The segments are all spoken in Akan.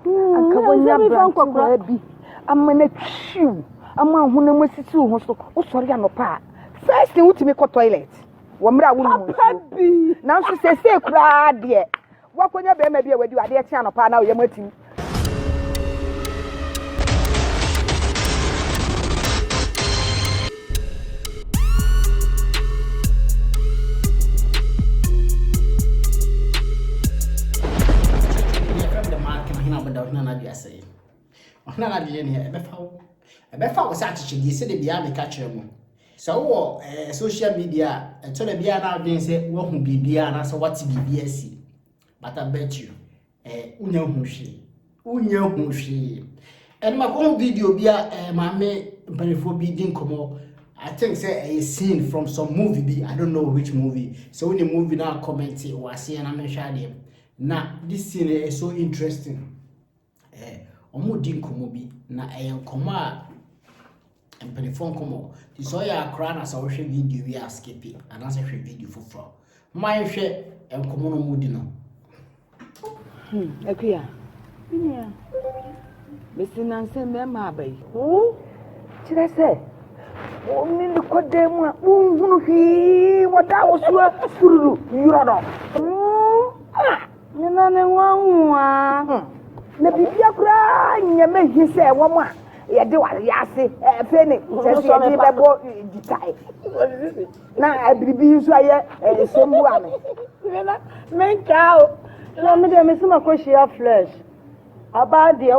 Anka wonya aberante waa bi ama no atwiw ama ahonam asisi wo ho so wosɔre anɔpa a first thing wotumi kɔ toilet wɔ mmerɛ a wonom nsuo nanso sɛsei koraa deɛ woakɔnya bɛrima bi a wadi wadeɛ kye anɔpa na woyam atim ɔhene anadeɛ neɛ ɛbɛfa wo ɛbɛfa wo sɛ akyekyedeɛ sɛdeɛ bia meka kyerɛ mo sɛ wowɔ eh, social media a ɛtɔ da biara na adwene sɛ woahu biribiara anaasɛ woate biribiara si but I bet you eh, wonya hu hwee wonya hu hwee ɛno ma kɔhu video bi a eh, maame mpanimfoɔ bi di nkɔmmɔ I think sɛ ɛyɛ scene from some movie bi I don't know which movie sɛ wo ne movie na comment wɔ aseɛ na mehwɛ adeɛ na this scene is eh, so interesting eh, wɔn di nkɔmmɔ bi na ɛyɛ nkɔmmɔ a mpanyimfoɔ nkɔmmɔ nti sɛ ɔyɛ akora na sɛ ɔhwɛ video wie a skipi anaasɛ hwɛ video foforɔ ma nhwɛ nkɔmmɔ no mu di no hmm, akua menua mesi nansɛ mmarima aba yi wo kyerɛ sɛ wɔne ne kɔdan mu a wonhunu hwee wɔda wo soa fururu yorɔ no hmm, ah. Nyina ne nwanwa. Na biribiara koraa nyɛ me he sɛ wɔn a yɛde wɔn wiase fɛ ne kyɛ sɛ yɛde bɛbɔ gyitae. Na biribi nso ayɛ nsɛm bu a me. Nyina menkaa o. Na me deɛ mese makɔhyia flesh. Ɔbaa deɛ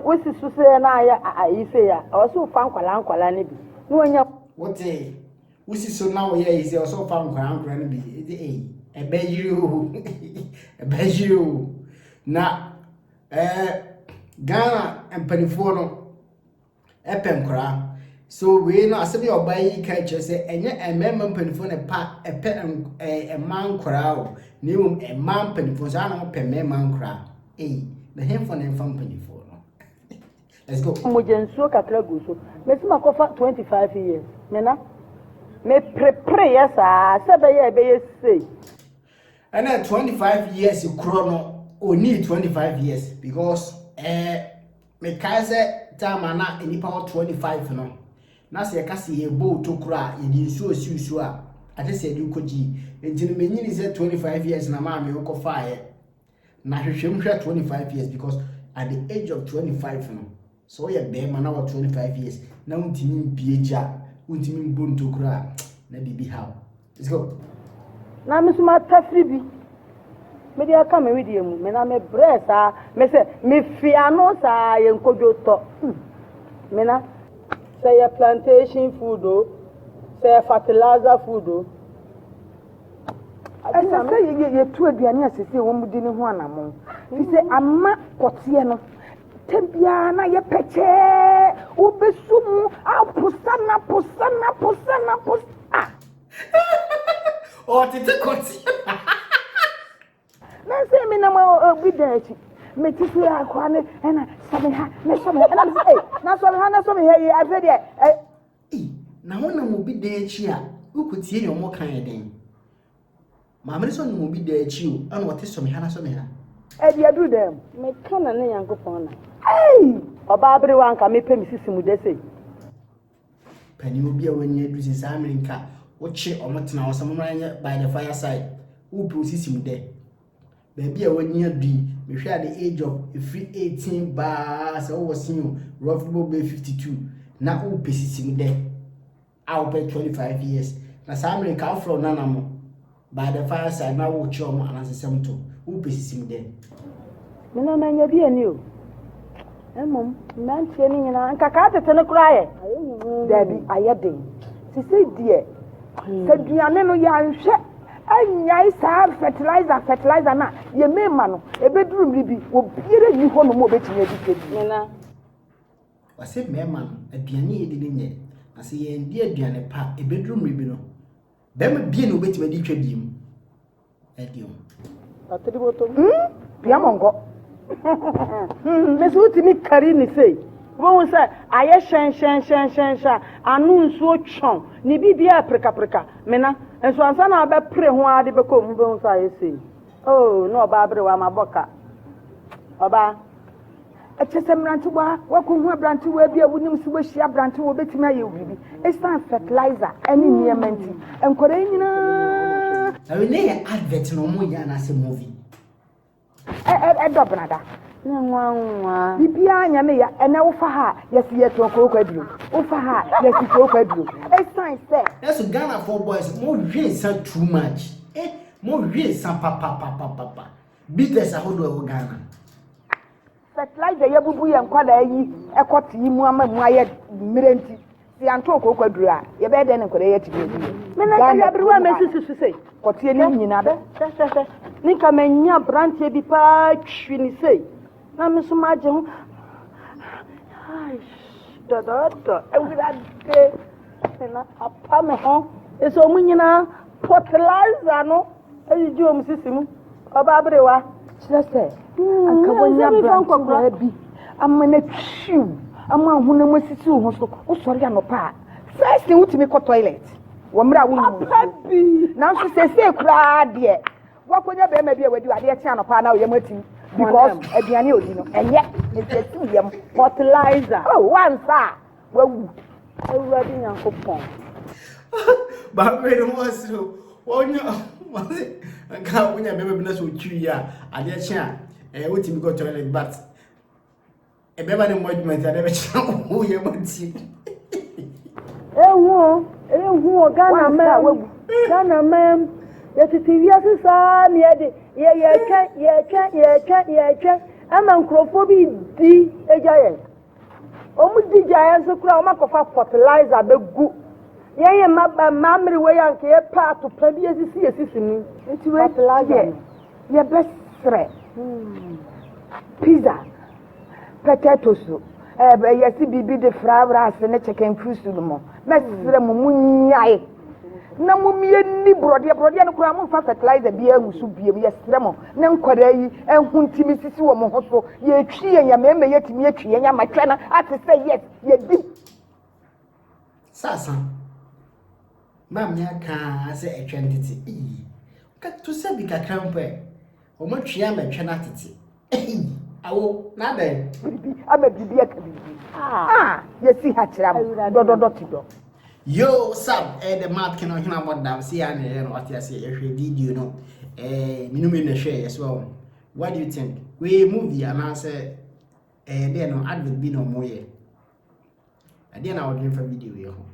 wosi so sɛ na ayɛ ayi sei a, ɔwɔ sɛ wofa nkwadaa nkwadaa no bi na wɔnya. Wotee? Wosi so na wɔyɛ ayi sɛ ɔsɛ ɔfa nkwadaa nkwadaa no bi ɛdi ɛyi ɛbɛ yiri o ɛbɛ yiri o na ɛɛ eh, Ghana mpanimfoɔ no ɛpɛ nkwadaa so wei no asɛm yɛ ɔbaa yi ka kyerɛ sɛ ɛnyɛ mmarima mpanimfoɔ na pa ɛpɛ ɛɛ mmaa nkwadaa o na mmom mmaa mpanimfoɔ saa na wɔpɛ mmarima nkwadaa ɛyi na hɛnfɔ na ɛnfa mpanimfoɔ no. Let's go. Mogya nsuo kakra gu so. Mesi makɔfa twenty five years me na me prepreeɛ saa sɛ ɛbɛyɛ a ɛbɛyɛ sei. Ɛna twenty five years korɔ no onii twenty five years because ɛɛ eh, mekae sɛ time a na nnipa wɔ twenty five no na sɛ yɛka sɛ yɛbɔ otokuro a yɛde nsuo si nsuo a akyɛ sɛ yɛde kɔgyi nti no menyini sɛ twenty five years na maa me wokɔfaeɛ Na hwehwɛ mu hwɛ 25 years because at the age of 25 no sɛ woyɛ bɛrima na wɔ 25 years na wontumi mpie gya wontumi mbɔ ntokuro a na biribi haw let's go na me nso matafiri bi mede aka me wedeɛ mu me na mebrɛ saa me sɛ mefi ano saa yɛ nkodwo tɔ hmm. me na sɛ yɛ plantation food o sɛ yɛ fertilizer food o ɛsɛ sɛ yɛtu aduane a sɛsɛ wɔmudi no ho anammɔn fi sɛ ama kɔteɛ no tɛ biara na yɛpɛkyɛɛ wobɛsu mu aposa na posa na posa na posa a ɔtete kɔteɛ na sɛ menam obi da akyi mete so yɛ akoa ne ɛna sɔme ha ne sɔme ha ɛna mesɛ na sɔme ha na sɔme ha yi afei deɛ I. Na wonam obi dan akyi a, wokotie nea wɔka yɛ dɛn? Maame no sɛ ɔnam obi dan akyi o, ɛna ɔte someha na someha. Ɛde aduru dɛn mu? Meka na ne Nyankopɔn na. Ei! Ɔbaa berewa anka mepɛ me sisi mu dɛ sei. Panin obi a wanya aduru sɛ saa mmere nka wokye wɔn tena hɔ sɛ mommra nyɛ by the fireside, wopɛ wo sisi mu dɛ. Baabi a w'ani adu yi, mehwɛ at the age of ɛfiri 18 baa sɛ wowɔ senior roughly bɔ bɛyɛ 52 na wopɛ sisi mu dɛ a wopɛ 25 years na saa mmerɛ nka wofrɛ wo nana mo by the fireside na wokyerɛ wɔn anansesɛm to wopɛ sisi mu dɛ. Me na manya bi ani o. Mmom mmeranteɛ no nyinaa nka kaa tete no koraa yɛ daabi ayɛ den sesei deɛ sɛ duane no yɛanhwɛ Ɛnyae saa fertilizer fertilizer no a yɛmee ma no, ɛbɛduru mmere bi, obiara nni hɔnom a ɔbɛtumi adi ka bi. Nana. Wɔse mmarima no, aduane a yɛdi no nyɛ, na sɛ yɛanndi aduane pa a, ɛbɛduru mmere bi no, barima biara nni hɔ a ɔbɛtumi adi twa bi mu. Ɛdeɛn? hmm? pia mo nkɔ hmm, mesi wotumi kari ne sei wobɛhu sɛ ayɛ hyɛnhyɛnhyɛnhyɛnhyɛ ano nsuo twɔn ne biribiaa prekapreka mena nso ansa na wobɛpere ho ara de bɛkɔ mu bɛhu sɛ ayɛ sei o oh, na ɔbaa bere wa mabɔ ka ɔbaa Ɛkyerɛ sɛ mmerantewa, woakɔhu aberantewa bi a wonim so woahyia aberantewa a obetumi ayɛ wo biribi. Esiane fertilizer ne nneɛma nti, nkwadaa yi nyinaa. Ɛwɛ ne yɛ advert na wɔn yɛ anaasɛ movie. Ɛ ɛ ɛdɔ benada. Ne nwa nwa. Bibiara nyɛ ne ya ɛnɛ wofa ha yɛsi yɛ tɔn kooko aduro wofa ha yɛsi kooko aduro esan sɛ. Ɛso Ghana for boys mo hwe nsa too much eh mo hwe nsa papapapapa. Bitters ahodoɔ ɛwɔ Ghana. Fertilizer yɛbubu yɛn nkwadaa yi ɛkɔ te yi mu ama mu ayɛ mmerɛ nti sɛ yɛanto kooko aduru a yɛbɛyɛ dɛn ne nkwadaa yi atumi adi yɛ. Mena nka yɛ aberewa mɛsi susu sɛ. Kɔteɛ ne nyina bɛ. Hwɛhwɛhwɛ ne nka manya aberanteɛ bi paa twi ne sei. Na me nso magye ho. Dɔdɔɔdɔ, awurade, na apa me ho. Ɛsɛ ɔmo nyinaa fertilizer no ayigye ɔmo sisi mu. Ɔbaa berewa. Kyerɛ sɛ, hmm, anka wɔnya aberantewa bi ama no atwiw, ama ahonam asisi wo ho so. Wosɔre anɔpa a, first thing wotumi kɔ toilet wɔ mmerɛ a wonyi mu nsuo. Nanso sɛsɛ koraa deɛ, Wakonya bɛrima bi a wadi ade ɛkye anɔpa na ɔyam atim because aduane odi no ɛnyɛ nti atim yam fertilizer oh wansa a wawu awurade nyankopɔn baako ne ho asere wɔnya wɔne nka wonya bɛma bi na sɛ ɔtwiri yɛ a adeɛ kye a ɛyɛ wotumi kɔ toilet but ɛbɛma ne mmɔ adwuma nti ade bɛkyerɛ wo yɛ bɔ ti ehu ehu o ghana mɛm ghana mɛm yɛtete wiase saa ne yɛde yɛyɛtwɛ yɛtwɛ yɛtwɛ yɛtwɛ ama nkurɔfoɔ bi di agya yɛn wɔn di gya yɛn nso koraa wɔn akɔfa fertilizer bɛgu yɛn yɛ mma mma mmerewei anka yɛpɛ atopa bi esisi esisi ni fertilizer no. Yɛbɛsrɛ pizza, potato soup, ɛɛ yɛsi biribi de fried rice ne chicken firi so no mu. Mɛsrɛ mo mo nyae na mo mmie ni borɔdeɛ borɔdeɛ no koraa mo nfa fertilizer bi ahu so biem yɛsrɛ mo ne nkwadaa yi ɛho ntumi sisi wɔ mo ho so yɛtwi yɛn yɛn mɛmɛ yɛtumi atwi yɛn yɛn amatwɛ no ate sɛ yes yɛdi Sasa, Maame akaa sɛ ɛtwɛn tete. Eyi, ka to sɛ bi kakra mpo ɛ. Wɔn twe ama ɛtwɛn atete. Eyi, awo, n'adɛn. Biribi ama biribi aka biribi. Ah. ah, yɛsi ha kyerɛ mo. Dɔdɔdɔ ti dɔ. Yo, sab, ɛyɛ dɛ maa kene ɔhene abɔ dam si ya ne yɛ no ɔte ase yɛhwɛ video no. Eh, minu mi na hwɛ yɛ so ɔmo. What do you think? Wei movie anaasɛ ɛyɛ dɛ no advert bi na ɔmo yɛ. ɛdeɛ na wɔdwen fa video yɛ ho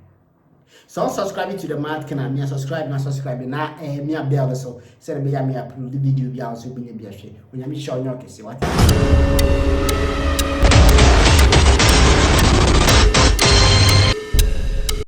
sɛ wo subscribe to the mat kana mea subscribe na subscribe na eh, mea bell so sɛ ne bɛyɛ mea upload video bi a wo sɛ wobɛnya bi ahwɛ onyame hyɛ ɔnyɛ ɔkɛse wate